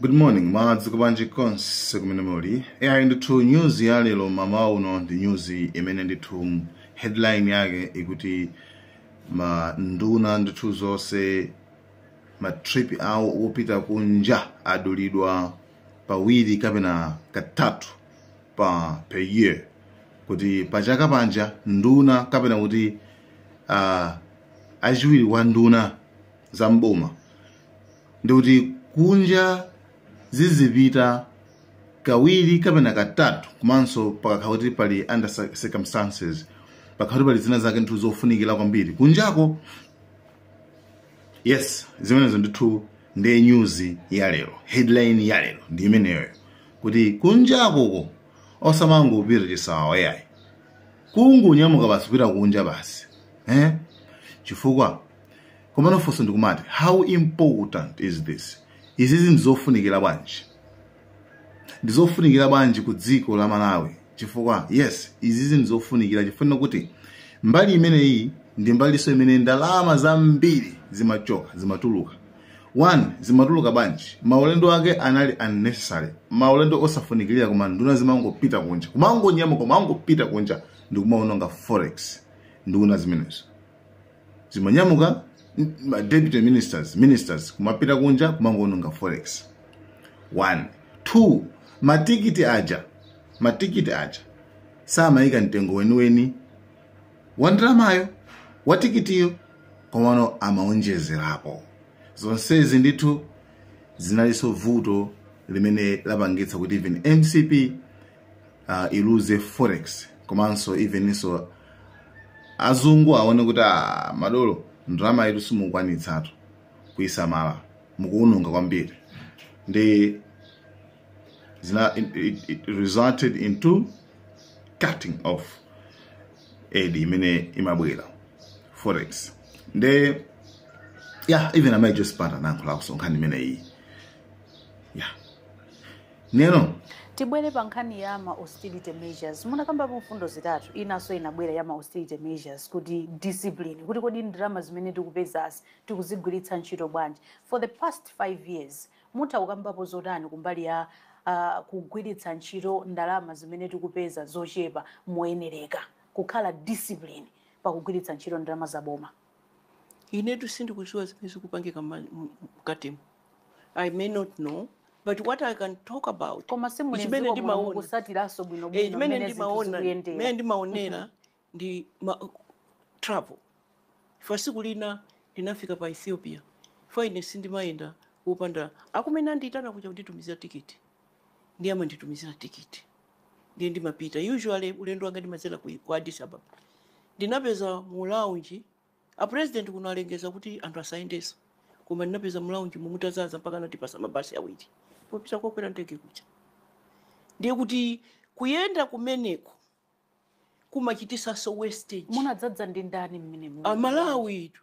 good morning mwadzuka bwanji konse kumene muli ai ndithu news ya lero mmawa uno ndi news imene ndithu headline yake ikuti ma nduna ndithu zonse ma trip awo opita kunja adulidwa pawiri kapena katatu pa per year kuti pachaka paja nduna kapena kuti uh, achiwiri wa nduna za mboma ndikuti kunja zizipita kawiri kapena katatu komanso pakakhala kuti pali under cir- circumstances pakhala kuti pali zina zake ndithu zofunikira kwambiri kunjako yes zimenezo ndithu ndiye nyuzi ya lero headline ya lero ndi imeneyoyo kuti kunjakoko osamangopita chisawawa yayi kungonyamuka basi kupita kunja basi eh? chifukwa komano funso ndikumati how important is this izizi ndizofunikira bwanji ndizofunikira bwanji ku dziko la malawi chifukwa yes izizi ndizofunikira chifukwa kuti mbali imeneyi ndi mbalinso imene ndalama zambiri zimachoka zimatuluka one zimatuluka bwanji maulendo ake anali unnecessary maulendo osafunikirira koma nduna zimangopita kunja kumangonyamuka kumangopita kunja ndikumaononga forex nduna zimenezo zimanyamuka m- ma deputy ministers ministers kumapita kunja kumangononga forex one two matikiti aja matikiti aja samayika mtengo weniweni wa ndalama yo wa tikitiyo komano amaonjezerapo zonsezi ndithu zinalinso vuto limene lapangitsa kuti even mcp uh, iluze forex komanso eveninso azungu aone kuti ah, madolo ndalama yathu simukwanitsatu kuyisamala mukuwononga kwambiri ndi zina it, it, it resulted into cutting off aid imene imabwera forex nde yeah even amai josephat anayankhulakonso nkhani imene iyi Neno. Tibwere pa nkhani ya ma austerity measures. Munakambapo mfundo zitatu, inanso inabwera ya ma austerity measures kuti discipline, kuti kodi ndalama zimene tikupezazi tikuzigwiritsa ntchito bwanji. For the past five years, mutha kukambapo zotani kumbali ya uh, kugwiritsa ntchito ndalama zimene tikupeza zochepa moyenereka, kukhala discipline pakugwiritsa ntchito ndalama za boma? inetu sindikuziwa zimene zikupangika mma- m- m- mkatimu i may not know but what i can talk about koma is chimene simuliziwa muno ndimaona mukusatiranso Eh, bwinobwino chimene mmene zinthu ndimaona mmene zikuyendera ndimaonera ndi ma, travel ifa siku lina ndinafika pa ethiopia ifa ine sindimayenda kupanda akumene andiyitana kuja kunditumizira tikiti ndiye amanditumizira tikiti ndiye ndimapita usually ulendo wanga ndimadzera ku ku addis ababa ndinapeza mu lounge a president kuno alengeza kuti anthu asayendenso koma ndinapeza mu lounge mutazaza mpaka anatipasa mabasi awiri opita kokwera ndege kuja ndiye kuti kuyenda kumeneko kumachitisanso wastage munadzadza ndi ndani mmene mu- amalawi itu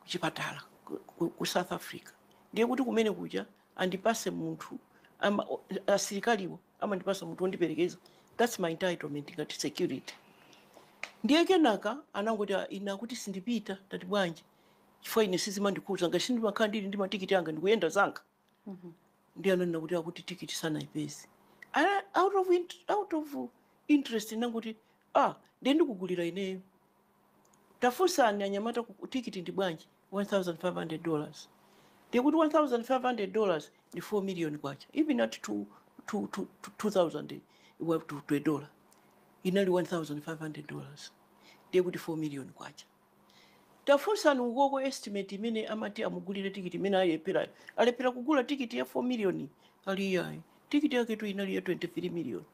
kuchipatala ku, ku, ku south africa ndiye kuti kumene kuja andipase munthu ama- o- asilikaliwo amandipasa munthu wondiperekeza thats my entitlement ngati security ndiye kenaka anangoti "Ah, ine akuti sindipita ndati bwanji chifukwa ine sizimandikhuza ngati sindimakhala ndili ndi matikiti anga ndikuyenda zanga ndiye ananena kuti akuti tikiti sanayipeze Ana- out of, int- out of interest ndinangoti ah ndiye ndikugulira ineyo tafunsani anyamata ku- tikiti ndi bwanji 1500 dollars ndiye kuti 1500 dollars ndi 4 million kwacha even at two- two- two- two- 2000 wa- to to a dollar inali 1500 dollars ndiye kuti 4 million kwacha Tafunsani ukoko estimate imene amati amugulire ticket imene alepherayo. Alephera kugula ticket ya 4 million ali iyayi. Ticket yaketu inali ya 23 million.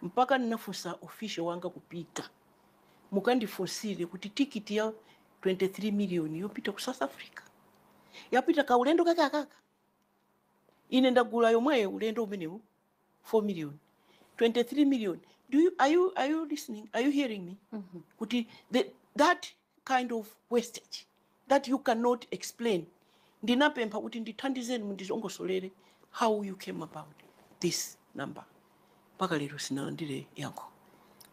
Mpaka ndinafunsa official wanga kupita. Mukandifunsire kuti ticket ya 23 million yopita ku South Africa. Yapita kaulendo kake kakaka. Ine ndagula yomweyo ulendo omwewu 4 million 23 million do you, are, you, are you listening are you hearing me mm -hmm. kuti the, that kind of wastage that you cannot explain ndinapempha kuti ndithandizeni mundilongosolere how you came about this number mpaka lero sinalandire yankho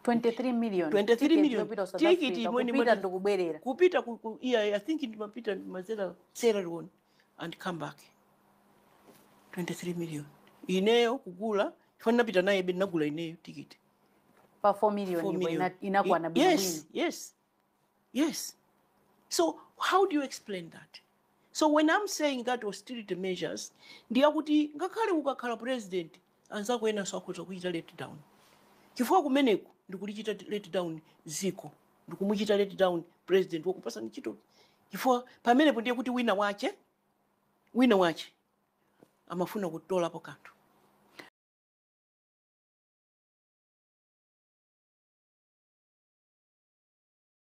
23 million 23 million tikiti kupita ndi kubwerera kupita I think ndimapita ndimazera Sierra Leone and come back 23 million ineyo kugula chifukwa ndinapita nayebe ndinagula ineyo tikiti pa 4 million, 4 million. Ina, inakwana bwino yes yes yes so how do you explain that so when i'm saying that austerity measures ndiyakuti ngakhale ukakhala president anzako enanso akhoza kuchita let down chifukwa kumeneko ndikulichita let down ziko ndikumuchita let down president wakupasa ntchito chifukwa pamenepo ndiye kuti wina wache wina wache amafuna kutolapo kanthu